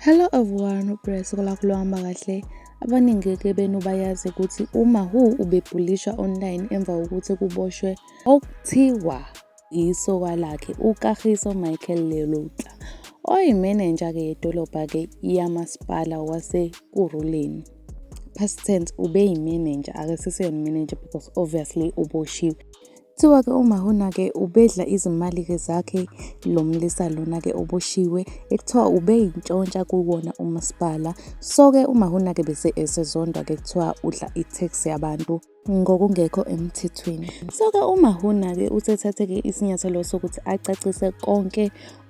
Hello everyone, uBreast kulakho lohamba kahle. Abaningi-ke benu bayazi ukuthi uMahu ubebhulishwa online emva kokuthi kuboshwe okuthiwa isoka lakhe uKagiso Michael Leloutla oyimenenja-ke yedolobha-ke yamasipala waseKuruleni. Past tense ubeyimenenja akasiseyona imenenja because obviously uboshiwe. Kuthiwa-ke uMahona-ke ubedla izimali-ke zakhe lo mlisa lona-ke oboshiwe, ekuthiwa ubeyintshontsha kuwona umasipala. So-ke uMahona-ke bese esezondwa-ke kuthiwa udla i-tax yabantu ngokungekho emthethweni. So-ke uMahona-ke usethathe-ke isinyathelo sokuthi acacise konke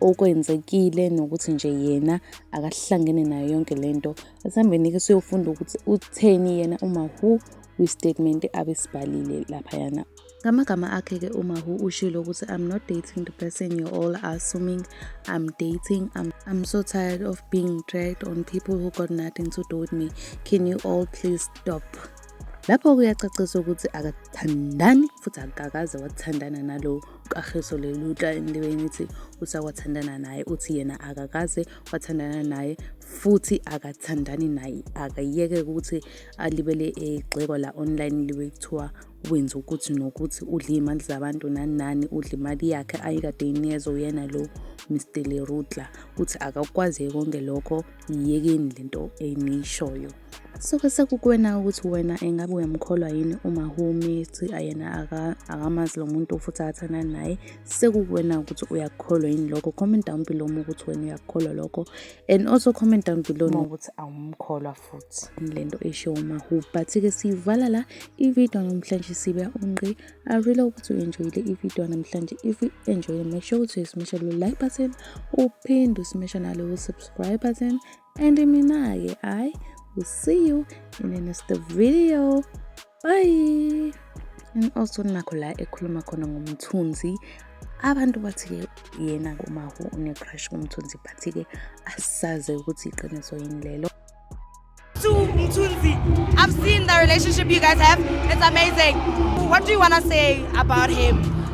okwenzekile nokuthi nje yena akahlangene nayo yonke le nto. Asihambeni-ke siyofunda ukuthi utheni yena uMahu kwistatement abesibhalile laphayana Ngamagama akhe-ke uMahu ushilo ukuthi I'm not dating the person you all are assuming I'm dating. I'm, I'm so tired of being dragged on people who got nothing to do with me. Can you all please stop? lapho kuyacacisa ukuthi akathandani futhi akakaze wathandana nalo kaheso lelutla endibeni ithi usakwathandana naye uthi yena akakaze wathandana naye futhi akathandani naye akayeke ukuthi alibele egxekwa la online libe kuthiwa wenza ukuthi nokuthi udle iy'mali zabantu nani nani udle imali yakhe ayikade inikezwa uyena lo mr lerutla uthi akakwazi konke lokho yiyekeni le nto eniyishoyo soke sekukuwena ukuthi wena engabe uyamkholwa yini umahumi ethi ayena akamazi lo muntu futhi athana naye sekukuwena ukuthi uyakukholwa yini lokho comment down below uma ukuthi wena uyakukholwa lokho and also comment down below ukuthi awumkholwa futhi le nto eshiwo umahu but-ke siyivala la ividiyo namhlanje sibe ungqi i really hope ukuthi u-enjoyile ividiyo namhlanje if u-enjoyile make sure ukuthi uyisimesha lo like button uphinde usimesha nalowo subscribe button and mina-ke i will see you in the next video Bye. And also nakho la ekhuluma khona ngomthunzi abantu bathi-ke yena kumahu unecrush kumthunzi but-ke asaze ukuthi iqiniso yini lelo I've seen the relationship you guys have. It's amazing. What do you want to say about him?